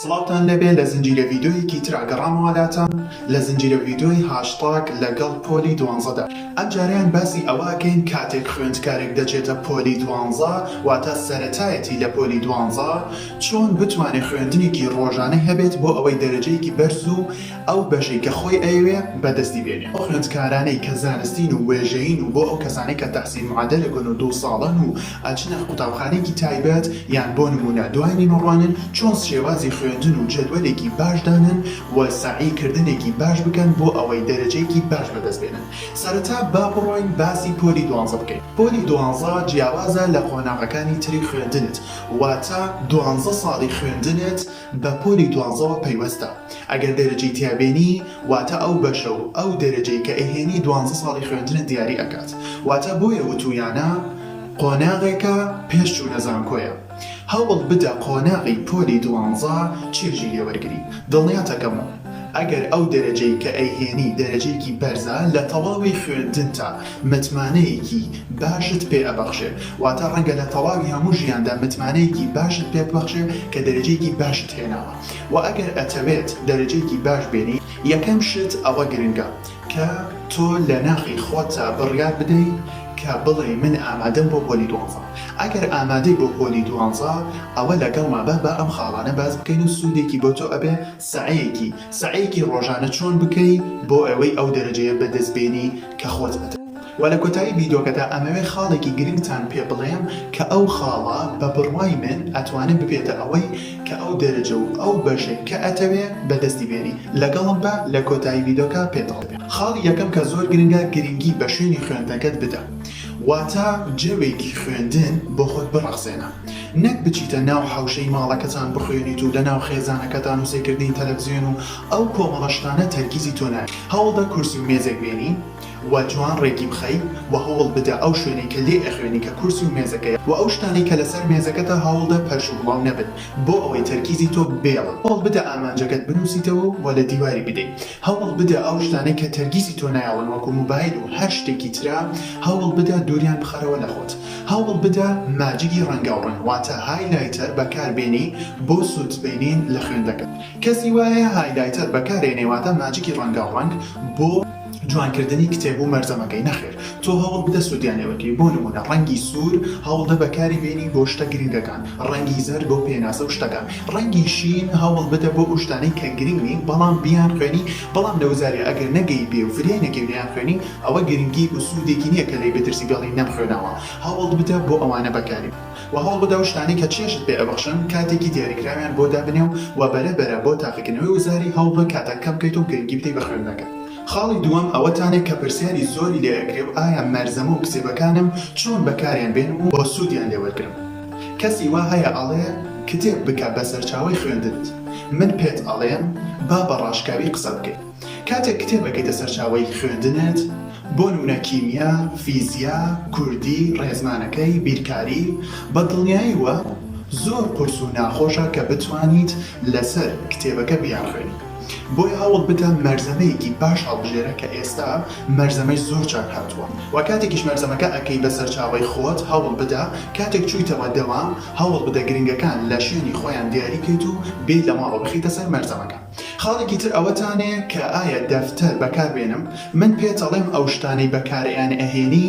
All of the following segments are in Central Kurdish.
سڵاوتان لێبێ لە زنجیرە ڤیدۆیەکی ترا گەڕامەوە لاتان لە زنجیرە ڤیدۆی هاشتاگ لەگەڵ پۆلی دوانزەدا ئەمجارەیان باسی ئەوە ئەکەین کاتێک خوێندکارێک دەچێتە پۆلی دوانزە واتە سەرەتایەتی لە پۆلی دوانزە چۆن بتوانێ خوێندنێکی ڕۆژانەی هەبێت بۆ ئەوەی دەرەجەیەکی بەرز و ئەو بەشەی کە خۆی ئەیەوێ بەدەستی بێنێ ئەو خوێندکارانەی کە زانستین و وێژەیین و بۆ ئەو کەسانەی کە تەحسین معەدەلەکن و دوو ساڵەن و ئەچنە قوتابخانەیەکی تایبەت یان بۆ نموونە دوای نیمەڕوانن چۆن شێوازی خوێندن و جەدوەلێکی باش دانەن و سەعی کردنێکی باش بکەن بۆ ئەوەی دەرەجەیەکی باش بەدەست بێنن سەرەتا با بڕۆین باسی پۆلی دوانزە بکەین پۆلی دوانزە جیاوازە لە قۆناغەکانی تری خوێندنت واتە دوانزە ساڵی خوێندنت بە پۆلی دوانزەوە پەیوەستە ئەگەر دەرەجەی تیا بێنی واتە ئەو بەشە و ئەو دەرەجەی کە ئەیهێنی دوانزە ساڵی خوێندنت دیاری ئەکات واتە بۆیە وتویانە قۆناغێکە پێش چونە زانکۆیە هەوڵ بدە قۆناغی پۆلی دوانزە چێژی لێ وەرگری دڵنیاتەکەم ئەگەر ئەو دەرەجەی کە ئەیهێنی دەرەجەیەکی بەرزە لە تەواوی خوێندنتا متمانەیەکی باشت پێ ئەبەخشێ واتە ڕەنگە لە تەواوی هەموو ژیاندا متمانەیەکی باشت پێ ببەخشێ کە دەرەجەیەکی باشت هێناوە وە ئەگەر ئەتەوێت دەرەجەیەکی باش بێنی یەکەم شت ئەوە گرنگە کە تۆ لە ناخی خۆتدا بڕیار بدەی کە بڵێی من ئامادەم بۆ پۆلی دوانزە ئەگەر ئامادەی بۆ پۆلی دوانزە ئەوە لەگەڵمە با با ئەم خاڵانە باس بکەین و سودێکی بۆ تۆ ئەبێ سەعیەکی سەعیەکی ڕۆژانە چۆن بکەی بۆ ئەوەی ئەو دەرەجەیە بە دەست بێنی کە خۆت بەدەم وە لە کۆتایی ڤیدۆکەدا ئەمەوێ خاڵێکی گرنگتان پێ بڵێم کە ئەو خاڵە بە بڕوای من ئەتوانێ ببێتە ئەوەی کە ئەو دەرەجە و ئەو بەشەی کە ئەتەوێ بەدەستی بێنی لەگەڵم بە لە کۆتایی ڤیدۆکە پێت ئەڵێم خاڵی یەکەم کە زۆر گرنگە گرنگی بە شوێنی خوێندنەکەت بدە واتە جەوێکی خوێندن بۆ خۆت بڕەخسێنە نەک بچیتە ناو حەوشەی ماڵەکەتان بخوێنیت و لە ناو خێزانەکەتان و سەیکردنی تەلەفزیۆن و ئەو کۆمەڵە شتانە تەرکیزی تۆ نایەت. هەوڵدە کورسی و مێزێک بێنی و جوان ڕێکی بخەی و هەوڵ بدە ئەو شوێنەی کە لێ ئەخوێنی کە کورسی و مێزەکەیە و ئەو شتانەی کە لەسەر مێزەکەتە هەوڵدە پەرش و گڵاو نەبن بۆ ئەوەی تەرکیزی تۆ بێڵن هەوڵ بدە ئامانجەکەت بنوسیتەوە و لە دیواری بدەی هەوڵ بدە ئەو شتانەی کە تەرگیزی تۆ نایەڵن وەکو موبایل و هەر شتێکی ترە هەوڵ بدە دوریان بخەرەوە لە خۆت هەوڵ بدە ماجگی ڕەنگاوڕەنگ واتە هایلایتەر بەکار بێنی بۆ سوود بینین لە خوێندەکەت. کەسی وایە هایلایتەر بەکارێنێ واتە ماجیکی ڕەنگاو ڕەنگ بۆ جوان کردنی کتێب و مەرجەمەکەی نەخێر تۆ هەوڵ بدە سودیان لێ وەرگری بۆ نمونە ڕەنگی سور هەوڵدە بەکاری بێنی بۆ شتە گرنگەکان ڕەنگی زەرد بۆ پێناسە و شتەکان ڕەنگی شین هەوڵ بدە بۆ ئەو شتانەی کە گرنگ نین بەڵام بیان خوێنی بەڵام لە وزاری ئەگەر نەگەی بێ و فریای نەگەی و نەیان خوێنی ئەوە گرنگی و سودێکی نیە کە لێی بترسی بێڵی نەم خوێناوە هەوڵ بدە بۆ ئەوانە بەکاری وە هەوڵبدە ئەو شتانەی کە چێژت پێ ئەبەخشن کاتێکی دیاریکراویان بۆ دابنێ و وە بەرە بەرە بۆ تاقیکردنەوەی وزاری هەوڵبە کاتت کەم بکەیت و گرنگی بدەی بە خوێندنەکەت. خاڵی دووەم ئەوەتانێ کە پرسیاری زۆری لێ ئەکرێ و ئایا مەرزەمە و کتێبەکانم چۆن بەکاریان بێنم و سوودیان لێ وەرگرم کەسی وا هەیە ئەڵێ کتێب بکە بە سەرچاوەی خوێندنت من پێت ئەڵێم با بە ڕاشکاوی قسە بکەی. کاتێک کتێب ئەکەیتە سەرچاوەی خوێندنت، بۆ نمونە کیمیا، فیزیا، کوردی، ڕێزمانەکەی، بیرکاری، بە دڵنیایەوە زۆر قورس و ناخۆشە کە بتوانیت لەسەر کتێبەکە بیانخوێنی، بۆیە هەوڵ بدە مەرزەمەیەکی باش هەڵبژێرە کە ئێستا مەرزەمەی زۆر چاک هاتووە و کاتێکیش مەرزەمەکە ئەکەی بە سەرچاوەی خۆت هەوڵ بدە کاتێک چویتەوە دەوام هەوڵ بدە گرنگەکان لە شوێنی خۆیان دیاری کەیت و بێیت لە ماڵەوە بخەیتە سەر مەرزەمەکە. خاڵێکی تر ئەوەتانێ کە ئایا دەفتەر بەکار بێنم من پێت ئەڵێم ئەو شتانەی بەکار ئەیان ئەهێنی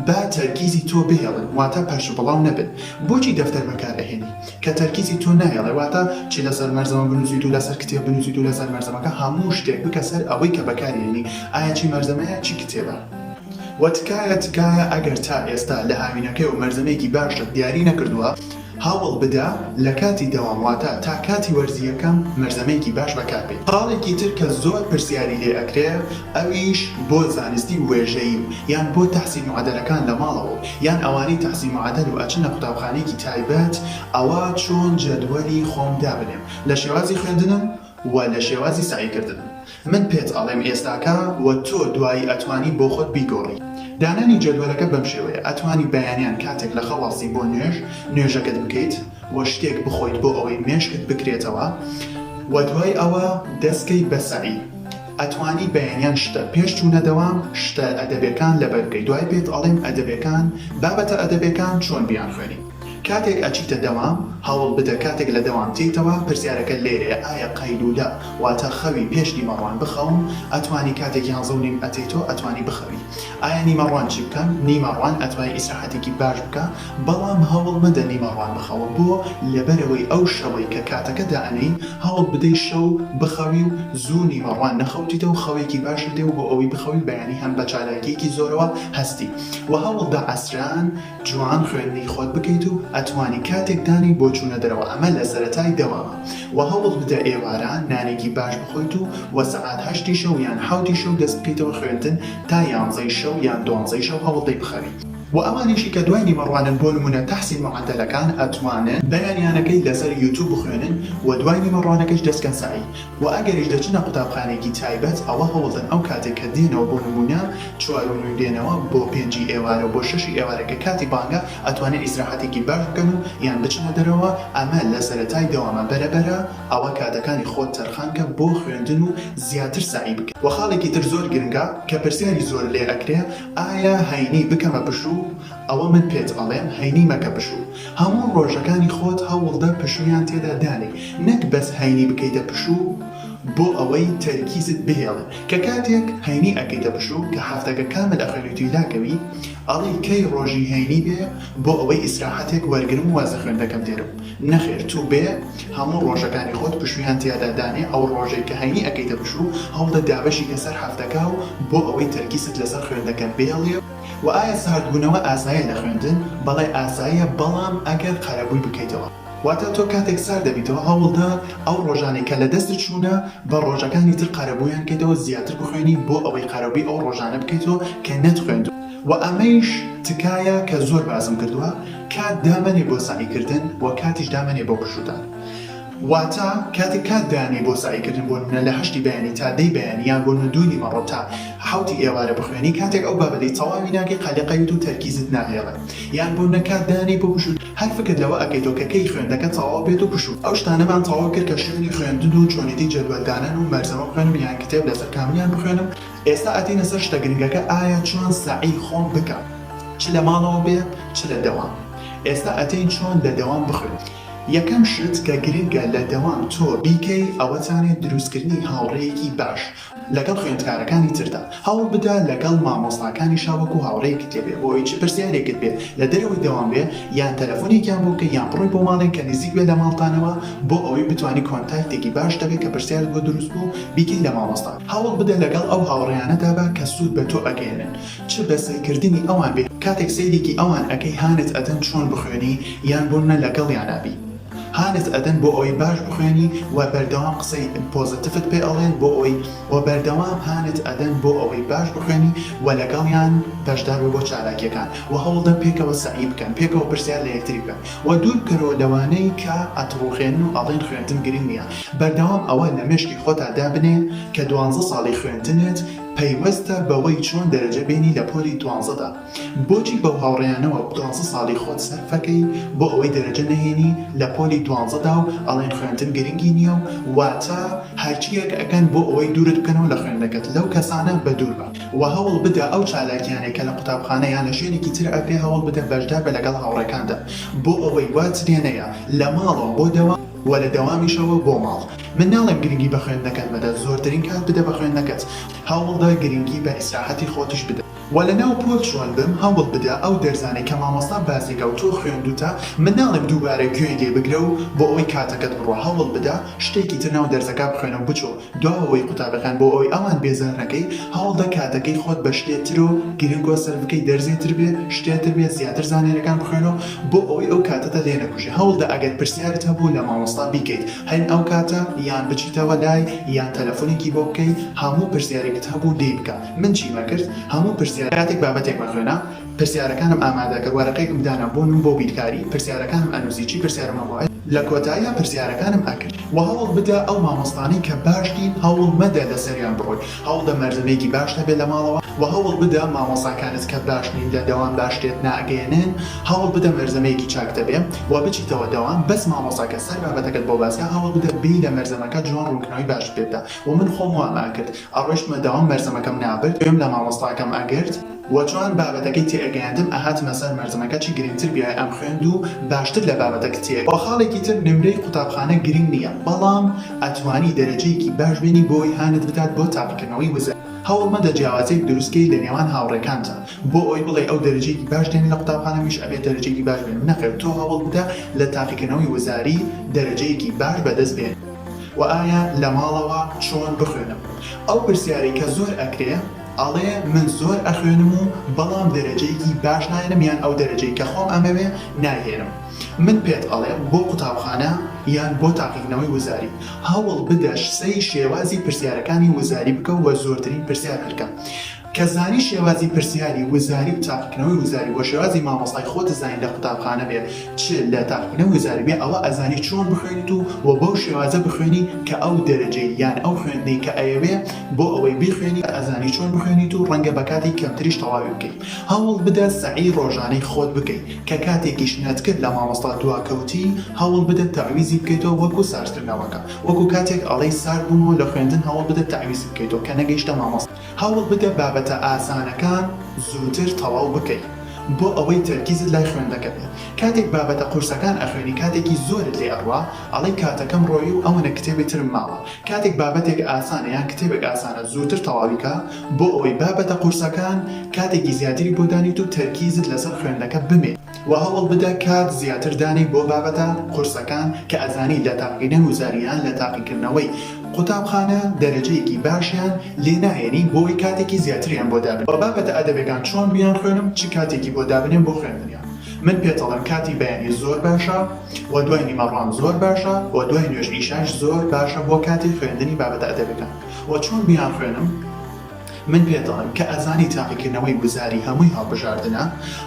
با تەرکیزی تۆ بهێڵن واتا پەرش بڵاو نەبن بۆچی دەفتەر بەکار ئەهێنی کە تەرکیزی تۆ ناهێڵێ واتا چ لەسەر مەرزەمە بنوسیت و لەسەر کتێب بنوسیت و لەسەر مەرزەمەکە هەموو شتێک بکە سەر ئەوەی کە بەکاری ئەیەنی ئایا چی مەرزەمەیە چی کتێبە وە تکایە تکایە ئەگەر تا ئێستا لە هاوینەکەیەوە مەرزەمەیەکی باشت دیاری نەکردووە هەوڵ بدە لە کاتی دەوام واتە تا کاتی وەرزی یەکەم مەرزەمێکی باش بەکاربەی. خاڵێکی تر کە زۆر پرسیاری لێ ئەکرێ ئەویش بۆ زانستی وێژەیی و یان بۆ تەحسین معەدەلەکان لە ماڵەوە و یان ئەوانەی تەحسین معەدەل و ئەچنە قوتابخانەیەکی تایبەت ئەوا چۆن جەدوەلی خۆم دابنێم لە شێوازی خوێندنم و لە شێوازی سەعی کردن من پێت ئەڵێم ئێستاکە و تۆ دوایی ئەتوانی بۆ خۆت بیگۆڕی دانانی جەدوەلەکە بەم شێوەیە ئەتوانی بەیانیان کاتێک لە خەواسی بۆ نوێژ نوێژەکەت بکەیت و شتێک بخۆیت بۆ ئەوەی مێشکت بکرێتەوە و دوای ئەوە دەست کەی بە سەعی ئەتوانی بەیانیان شتە پێش چونە دەوام شتە ئەدەبێکان لەبەر بکەی دوای پێت ئەڵێم ئەدەبێکان بابەتە ئەدەبێکان چۆن بیانخوێنی. کاتێک ئەچیتە دەوام هەوڵ بدە کاتێک لە دەوام تێیتەوە پرسیارەکە لێرەیە ئایا قەیلولە واتە خەوی پێش نیمەڕوان بخەوم ئەتوانی کاتێک یانزەو نیم ئەتێیتۆ ئەتوانی بخەوی ئایا نیمەڕوان چی بکەم نیمەڕوان ئەتوانی ئیسراحەتێکی باش بکە بەڵام هەوڵ مەدە نیمەڕوان بخەوە بۆ لەبەرئەوەی ئەو شەوەی کە کاتەکە دائەنێی هەوڵ بدەی شەو بخەوی و زوو نیمەڕوان نەخەوتیتەو خەوێکی باشت دێ و بۆ ئەوەی بخەوی بەیانی هەم بەچالاکیەکی زۆرەوە هەستی و هەوڵدە عەسران جوان خوێندنی خۆت بکەیت و ئەتوانی کاتێک دانی بۆ چونە دەرەوە ئەمە لە سەرەتای دەوامە وە هەوڵ بدە ئێوارە نانێکی باش بخۆیت و وە سەعات هەشتی شەو یان حەوتی شەو دەست بکەیتەوە خوێندن تا یانزەی شەو یان دوانزەی شەو هەوڵ دەی بخەوی وە ئەوانیشی کە دوای نیوە ڕوانن بۆ نمونە تەحسین معەدەلەکان ئەتوانن بەیانیانەکەی لەسەر یوتوب بخوێنن وە دوای نیوە ڕوانەکەش دەست کەن سەعی وە ئەگەریش دەچنە قوتابخانەیەکی تایبەت ئەوە هەوڵدەن ئەو کاتەی کە دێنەوە بۆ نموونە چوار و نیو دێنەوە بۆ پێنجی ئێوارە و بۆ شەشی ئێوارە کە کاتی بانگە ئەتوانن ئیسراحەتێکی باش بکەن و یان بچنە دەرەوە ئەمە لە سەرەتای دەوامە بەرەبەرە ئەوە کاتەکانی خۆت تەرخان کە بۆ خوێندن و زیاتر سەعی بکە. وە خاڵێکی تر زۆر گرنگە کە پرسیاری زۆر لێ ئەکرێ ئایا هەینی بکەمە پشوو ئەوە من پێت ئەڵێم هەینی مەکە پشوو هەموو ڕۆژەکانی خۆت هەوڵدە پشوویان تێدا دانێی نەک بەس هەینی بکەیتە پشوو بۆ ئەوەی تەرکیزت بهێڵێ کە کاتێک هەینی ئەکەیتە پشوو کە هەفتەکە کامل ئەخوێنیتوی لاکەوی ئەڵێی کەی ڕۆژی هەینی بێ بۆ ئەوەی ئیسراحەتێک وەرگرم واز لە خوێندنەکەم دێرم نەخێر توو بێ هەموو ڕۆژەکانی خۆت پشوویان تیادا دانێ ئەو ڕۆژەی کە هەینی ئەکەیتە پشوو هەوڵدە دابەشی کە سەر هەفتەکە و بۆ ئەوەی تەرکیزت لەسەر خوێندنەکەت بێڵێ وە ئایا ساردبوونەوە ئاسایە لە خوێندن؟ بەڵێ ئاساییە بەڵام ئەگەر قەرەبووی بکەیتەوە واتە تۆ کاتێک سارد دەبیتەوە هەوڵدە ئەو ڕۆژانەی کە لە دەستت چوونە بە ڕۆژەکانی تر قەرەبوویان بکەیتەوە زیاتر بخوێنی بۆ ئەوەی قەرەبووی ئەو ڕۆژانە بکەیتەوە کە نەتخوێندووە وە ئەمەیش تکایە کە زۆر باسم کردووە کات دامەنێ بۆ سەعی کردن وە کاتیش دامەنێ بۆ پشوو دان. واتە کاتێک کات دانێی بۆ سەعیکردن بۆ نمونە لە هەشتی بەیانی تا دەی بەیانی یان بۆ نمونە دوو نیمەڕۆ تا حەوتی ئێوارە بخوێنی کاتێک ئەو بابەتەی تەواوی ناکەی قەلەقەیت و تەرکیزت ناهێڵێ یان بۆ نە کات دانێی بۆ پشوو هەر فکر لەوە ئەکەیتەوە کە کەی خوێندنەکە تەواو بێت و پشوو ئەو شتانەمان تەواو کرد کە شوێنی خوێندن و چۆنێتی جەدوەل دانان و مەرزەمە بخوێنم یان کتێب لەسەر کامیان بخوێنم ئێستا ئەتینە سەر شتە گرنگەکە ئایا چۆن سەعی خۆم بکەم چ لە ماڵەوە بێ چ لە دەوام ئێستا ئەتین چۆن لە دەوام بخوێنم یەکەم شت کە گرنگە لە دەوام تۆ بیکەی ئەوەتانێ دروستکردنی هاوڕێیەکی باش لەگەڵ خوێندکارەکانی تردا هەوڵبدە لەگەڵ مامۆستاکانیشا وەکو هاوڕێیەکت لێ بێ بۆ ئەوەی چ پرسیارێکت بێ لە دەرەوەی دەوام بێ یان تەلەفۆنێکیان بۆ بکەی یان بڕۆی بۆ ماڵێک کە نزیک بێ لە ماڵتانەوە بۆ ئەوەی بتوانی کۆنتاکتێکی باش دەبێ کە پرسیارت بۆ دروست بوو بیکەی لە مامۆستا هەوڵبدە لەگەڵ ئەو هاوڕێیانەدا بە کە سود بە تۆ ئەگەیەنن چ بە سەیرکردنی ئەوان بێ کاتێک سەیرێکی ئەوان ئەکەی هانت ئەدەن چۆن بخوێنی یان بۆ نە لەگەڵیانا بی هانت ئەدەن بۆ ئەوەی باش بخوێنی وە بەردەوام قسەی پۆزەتفت پێ ئەڵێن بۆ ئەوەی وە بەردەوام هانت ئەدەن بۆ ئەوەی باش بخوێنی وە لەگەڵیان بەشدار بە بۆ چالاکیەکان وە هەوڵدەن پێکەوە سەعی بکەن پێکەوە پرسیار لە یەکتری بکەن وە دوور بکەرەوە لەوانەی کە ئەتڕوخێنن و ئەڵێن خوێندن گرنگ نیە بەردەوام ئەوە لە مێشکی خۆتا دابنێ کە دوانزە ساڵی خوێندنت پەیوەستە بەوەی چۆن دەرەجە بێنی لە پۆلی دوانزەدا بۆچی بەو هاوڕێیانەوە دوانزە ساڵی خۆت سەرفەکەی بۆ ئەوەی دەرەجە نەهێنی لە پۆلی دوانزەدا و ئەڵێن خوێندن گرنگی نیە و واتە هەرچیەک ئەکەن بۆ ئەوەی دوورت بکەنەوە لە خوێندنەکەت لەو کەسانە بەدووربە و هەوڵ بدە ئەو چالاکیانەی کە لە قوتابخانە یان لە شوێنێکی تر ئەکرێ هەوڵ بدە بەشداربە لەگەڵ هاوڕێکاندا بۆ ئەوەی وات لێنەیە لە ماڵەوە بۆ دەوام و لە دەوامیشەوە بۆ ماڵ من ناڵێم گرنگی بە خوێندنەکەت مەدە، زۆرترین کات بدە بە خوێندنەکەت، هەوڵدە گرنگی بە ئیسراحەتی خۆتیش بدە، وە لە ناو پۆل چۆن بم هەوڵ بدە ئەو دەرزانەی کە مامۆستا بازیگا و تۆ خوێندووتە من ناڵێم دووبارە گوێی لێ بگرە و بۆ ئەوەی کاتەکەت بڕوا هەوڵ بدە شتێکی تر ناو دەرزەکە بخوێنە و بچۆ دواوەی قوتابیەکان بۆ ئەوەی ئەوان بێزار نەکەی هەوڵدە کاتەکەی خۆت بە شتێ ترۆ گرنگۆ سەرف بکەی دەرزێ تر بێ شتێ تر بێ زیاتر زانیاریەکان بخوێنۆ بۆ ئەوەی ئەو کاتەتە لێ نەکوژێ هەوڵدە ئەگەر پرسیارت هەبوو لە مامۆستا بیکەیت هەین ئەو کاتە یان بچیتەوە لای یان تەلەفونێکی بۆ بکەی هەموو پرسیارێکت هەبوو لێی بکە من چیمە کرد هەموو پرسیار کاتێک بابەتێکمە خوێنا پرسیارەکانم ئامادە کرد وەرەقەیەکم دانا بۆ نم بۆ بیرکاری پرسیارەکانم ئەنوسی چی پرسیارم هەبوو لە کۆتاییا پرسیارەکانم ئەکرد. وە هەوڵ بدە ئەو مامۆستانەی کە باش نین هەوڵ مەدە لەسەریان بڕۆی هەوڵدە مەردەمێکی باش هەبێت لە ماڵەوە وە هەوڵ بدە مامۆستاکانت کە باش نین لە دەوام باش شتێت ناگەیەنن هەوڵ بدە مەرزەمەیەکی چاک دەبێ وە بچیتەوە دەوام بەس مامۆستاکە سەر بابەتەکەت بۆ باسکە هەوڵ بدە بێی لە مەرزەمەکە جوان ڕونکردنەوەی باشت پێ بدا وە من خۆم وام ئەکرد ئەڕۆشتمە دەوام مەرزەمەکەم نابرد گوێم لە مامۆستاکەم ئەگرت وە چۆن بابەتەکەی تێ ئەگەیاندم ئەهاتمە سەر مەرزمەکە چ گرنگتر بیایە ئەم خوێند و باشتر لە بابەتەک تێ وە خاڵێکی تر نمرەی قوتابخانە گرنگ نیە بەڵام ئەتوانی دەرەجەیەکی باش بێنی بۆی هانت بکات بۆ تاقیکردنەوەی وزە هەوڵ مەدە جیاوازیەک دروست کەی لە نێوان هاوڕێکانتا بۆ ئەوەی بڵێی ئەو دەرەجەیەکی باش دێنێ لە قوتابخانە منیش ئەبێ دەرەجەیەکی باش بێنم نەخێر تۆ هەوڵ بدە لە تاقیکردنەوەی وزاری دەرەجەیەکی باش بەدەست بێنی. وە ئایا لە ماڵەوە چۆن بخوێنم ئەو پرسیارەی کە زۆر ئەکرێ؟ ئەڵێ من زۆر ئەخوێنم و بەڵام دەرەجەیەکی باش ناهێنم یان ئەو دەرەجەی کە خۆم ئەمەوێ نایهێنم من پێت ئەڵێم بۆ قوتابخانە یان بۆ تاقیکردنەوەی وزاری هەوڵ بدە سەی شێوازی پرسیارەکانی وزاری بکە و زۆرترین پرسیار هەلکە کە زانی شێوازی پرسیاری وزاری و تاقیکردنەوەی وزاری بۆ شێوازی مامۆستای خۆت زانی لە قوتابخانە بێ چ لە تاقیکردنەوەی وزاری بێ ئەوە ئەزانی چۆن بخوێنیت و بەو شێوازە بخوێنی کە ئەو دەرەجەی یان ئەو خوێندنەی کە ئەیەوێ بۆ ئەوەی بیخوێنیت ئەزانی چۆن بخوێنیت و ڕەنگە بە کاتی کەمتریش تەواوی بکەی هەوڵ بدە سەعی ڕۆژانەی خۆت بکەی کە کاتێکیش نەتکرد لە مامۆستا دواکەوتی هەوڵ بدە تەعویزی بکەیتەوە وەکو ساردکردنەوەکە وەکو کاتێک ئەڵێی سارد بوومەوە لە خوێندن هەوڵ بدە تەعویزی بکەیتەوە کە نەگەیشتە مامۆستا هەوڵ بدە بابەتە ئاسانەکان زووتر تەواو بکەی بۆ ئەوەی تەرکیزت لای خوێندەکە بێ کاتێک بابەتە قورسەکان ئەخوێنی کاتێکی زۆرت لێ ئەڕوا ئەڵێی کاتەکەم ڕۆیی و ئەوەنە کتێبی ترم ماوە کاتێک بابەتێک ئاسانە یان کتێبێک ئاسانە زووتر تەواوی کە بۆ ئەوەی بابەتە قورسەکان کاتێکی زیاتری بۆ دانێیت و تەرکیزت لەسەر خوێندنەکە بمێ وە هەوڵ بدە کات زیاتر دانێی بۆ بابەتە قورسەکان کە ئەزانی لە تاقیکردنەوەی وزاری یان لە تاقیکردنەوەی قوتابخانە دەرەجەیەکی باشیان لێ ناهێنی بۆ ئەوەی کاتێکی زیاتریان بۆ دابنێی. بابەتە ئەدەبیەکان چۆن بیانخوێنم چ کاتێکی بۆ دابنێم بۆ خوێندنیان؟ من پێتەڵێم کاتی بەیانی زۆر باشە وە دوای نیمەڕوان زۆر باشە وە دوای نوێژ ئیشاش زۆر باشە بۆ کاتی خوێندنی بابەتە ئەدەبیەکان وە چۆن بیانخوێنم من پێتەڵێم کە ئەزانی تاقیکردنەوەی وزاری هەمووی هەڵبژاردنە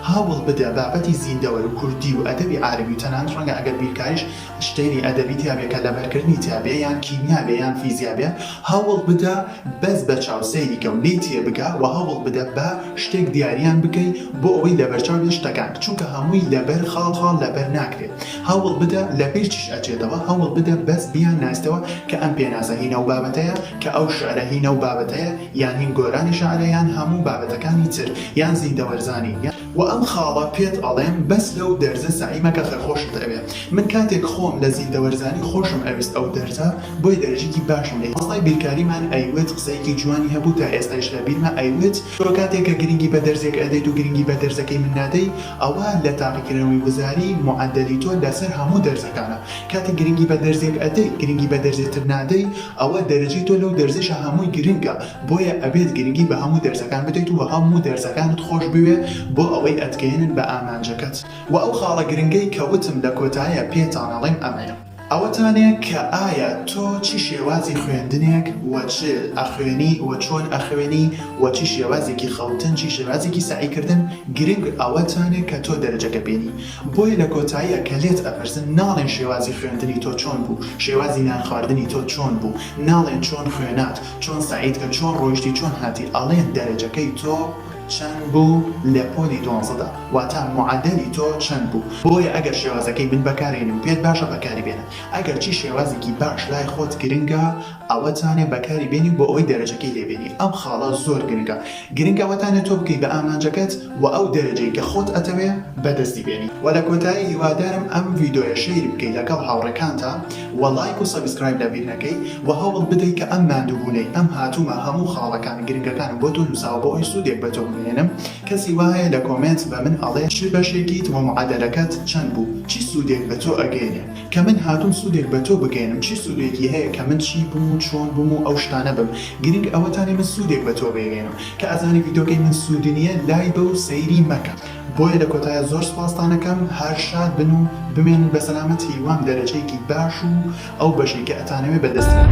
هەوڵبدە بابەتی زیندەوەر و کوردی و ئەدەبی عارەبی و تەنانەت ڕەنگە ئەگەر بیرکاریش شتێنی ئەدەبی تیابێ کە لەبەرکردنی تیابێ یان کیمیا بێ یان فیزیا بێ هەوڵ بدە بەس بە چاو سەیری کە و لێی تێ بگە وە هەوڵ بدە بە شتێک دیاریان بکەی بۆ ئەوەی لەبەرچاو بێ شتەکان چونکە هەمووی لەبەر خاڵ خاڵ لەبەر ناکرێ هەوڵ بدە لە بیر چیش ئەچێتەوە هەوڵ بدە بەس بیان ناسیتەوە کە ئەم پێناسە هین ئەو بابەتەیە کە ئەو شعرە هین ئەو بابەتەیە یان هین گۆرانی شعرە یان هەموو بابەتەکانی تر یان زیندەوەرزانی وە ئەم خاڵە پێت ئەڵێم بەس لەو دەرزە سەعی مەکە خێر خۆشت ئەوێ من کاتێک خۆم لە زیندە وەرزانی خۆشم ئەویست ئەو دەرزە بۆی دەرجیکی باشم لێ هی مامۆستای بیرکاریمان ئەیوت قسەیەکی جوانی هەبوو تا ئێستایش لە بیرمە ئەیوت تۆ کاتێک کە گرنگی بە دەرزێک ئەدەیت و گرنگی بە دەرزەکەی من نادەی ئەوا لە تاقیکردنەوەی وزاری معەدەلی تۆ لەسەر هەموو دەرزەکانە کاتێک گرنگی بە دەرزێک ئەدەی گرنگی بە دەرزێ تر نادەی ئەوا دەرجەی تۆ لەو دەرزەشە هەمووی گرنگە بۆیە ئەبێت گرنگی بە هەموو دەرزەکان بدەیت و هەموو دەرزەکانت خۆش بوێ بۆ ئەوەی ئەتگەیەنن بە ئامانجەکەت وە ئەو خاڵە گرنگەی کە وتم لە کۆتاییا پێتان ئەڵیم ئەمەیە ئەوەتانێ کە ئایا تۆ چ شێوازی خوێندنێک وە چ ئەخوێنی وە چۆن ئەخوێنی وە چ شێوازێکی خەوتن چ شێوازێکی سەعی کردن گرنگ ئەوەتانێ کە تۆ دەرەجەکە بێنی بۆیە لە کۆتاییا کە لێت ئەپرسن ناڵێن شێوازی خوێندنی تۆ چۆن بوو شێوازی نان خواردنی تۆ چۆن بوو ناڵێن چۆن خوێنات چۆن سەعید کە چۆن ڕۆیشتی چۆن هاتی ئەڵێن دەرەجەکەی تۆ چەند بوو لە پۆلی دوانزەدا واتا معەدەلی تۆ چەند بوو بۆیە ئەگەر شێوازەکەی من بەکارێنی و پێت باشە بەکاری بێنە ئەگەر چی شێوازێکی باش لای خۆت گرنگە ئەوەتانێ بەکاری بێنی بۆ ئەوەی دەرەجەکەی لێ بێنی ئەم خاڵە زۆر گرنگە گرنگ ئەوەتانە تۆ بگەی بە ئامانجەکەت وە ئەو دەرەجەی کە خۆت ئەتەوێ بەدەستی بێنی وە لە کۆتایی هیوادارم ئەم ڤیدۆیە شەیر بکەی لەگەڵ هاوڕێکانتا وە لایک و سەبسکرایب لەبیر نەکەی وە هەوڵ بدەی کە ئەم ماندووبونەی ئەم هاتومە هەموو خاڵەکان گرنگەکانم بۆ تۆ نوساوە بۆ ئەوەی سودێک بە تۆ بگەیەنم کەسی وا هەیە لە کۆمێنت بە من ئەڵێ چ بەشێکیت وە معەدەلەکەت چەند بوو چی سودێک بە تۆ ئەگەیەنێ کە من هاتوم سودێک بە تۆ بگەیەنم چی سودێکی هەیە کە من چی بم و چۆن بم و ئەو شتانە بم گرنگ ئەوەتانێ من سودێک بە تۆ بێگەیەنم کە ئەزانی ڤیدۆکەی من سودی نیە لای بە و سەیری مەکە بۆیە لە کۆتایە زۆر سوپاستان ئەکەم هەر شاد بن و بمێنن بە سەلامەت هیوام دەرەجەیەکی باش و ئەو بەشەی کە ئەتانەوێ بە دەست بێنن.